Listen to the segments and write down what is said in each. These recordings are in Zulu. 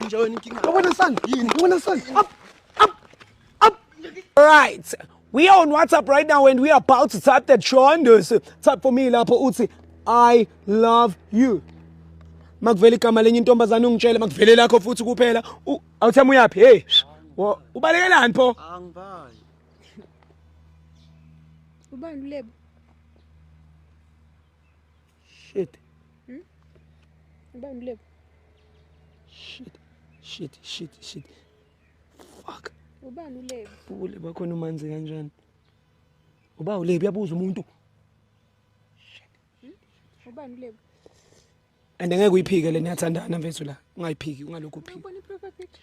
Njani inkinga? Ngibona sana. Yini? Ngibona sana. Up. Up. Up. Right. We are on WhatsApp right now and we are about to type that Shondos. Type for me lapho uthi I love you. Makuvela igama lenye intombazane ungitshele makuvele lakho futhi kuphela. Awuthama uyaphi? Hey. Ubalekelani pho? Angibali. Ubani ulebo? Shit. Hmm? Ubani mlebu? Shit. Shit, shit, shit. Fuck. Ubani ulebu? Ulebu akhona umanzi kanjani? Uba ulebu yabuza umuntu. Shit. Hmm? Ubani ulebu? And ngeke uyiphike le niyathandana mfethu la. Ungayiphiki ungalokhu uphika. Ubona i-profile picture?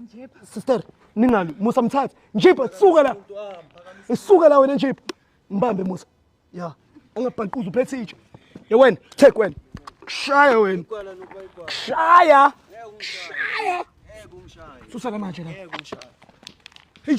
Njipha. Sister, ningalu Musa mthathe. Njipha suka la. Isuka la wena njipha. Mbambe Musa. Ya. Angabhanquza uphethe itshe. Ye wena, take wena. Kushaya wena. Kushaya. Kushaya. Susa la manje la. Hey.